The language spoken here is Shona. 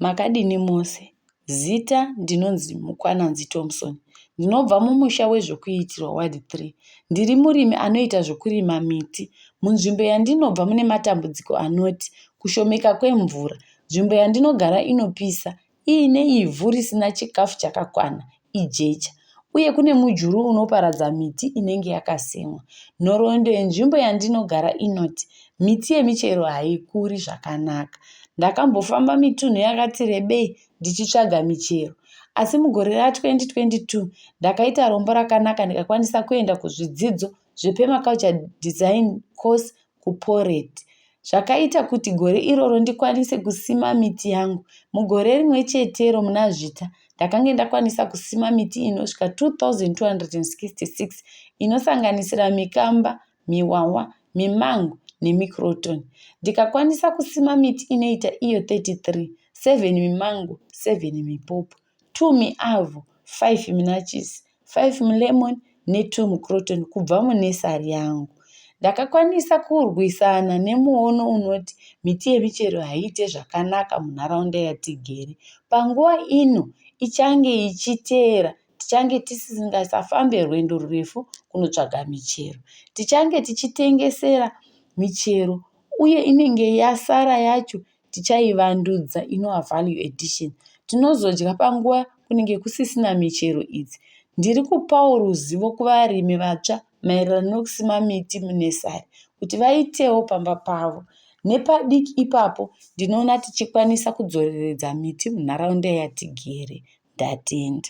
Makadini mose? Zita ndinonzi Mukwananzi Thompson. Ndinobva mumusha weZvokuitirwa, Ward 3. Ndiri murimi anoita zvokurima miti. Munzvimbo yandinobva mune matambudziko anoti kushomeka kwemvura, nzvimbo yandinogara inopisa, iine ivhu risina chikafu chakakwana, ijecha uye kune mujuru unoparadza miti inenge yakasimwa. Nhoroondo yenzvimbo yandinogara inoti miti yemichero haikuri zvakanaka. Ndakambofamba mitunhu yakati rebei ndichitsvaga michero. Asi mugore ra2022 ndakaita rombo rakanaka ndikakwanisa kuenda kuzvidzidzo zvepermaculture design course kuPoret. Zvakaita kuti gore iroro ndikwanise kusima miti yangu. Mugore rimwe chetero muna Zvita, ndakange ndakwanisa kusima miti inosvika 2,266 inosanganisira mikamba, miwawa, mimango nemicroton. Ndikakwanisa kusima miti inoita iyo 33, 7 mimango, 7 mipopo. two miavho, five minachisi, five milemon ne two microton kubva munursery yangu. Ndakakwanisa kurwisana nemuono unoti miti yemichero haiite zvakanaka munharaunda yatigere. Panguva ino ichange ichiteera tichange tisingasafambe rwendo rurefu kunotsvaga michero. Tichange tichitengesera michero uye inenge yasara yacho tichaivandudza inova value addition. Tinozodya panguva kunenge kusisina michero idzi. Ndiri kupawo ruzivo kuvarimi vatsva maererano nekusima miti munesari kuti vaitewo pamba pavo. Nepadiki ipapo ndinoona tichikwanisa kudzoreredza miti munharaunda yatigere. Ndatenda.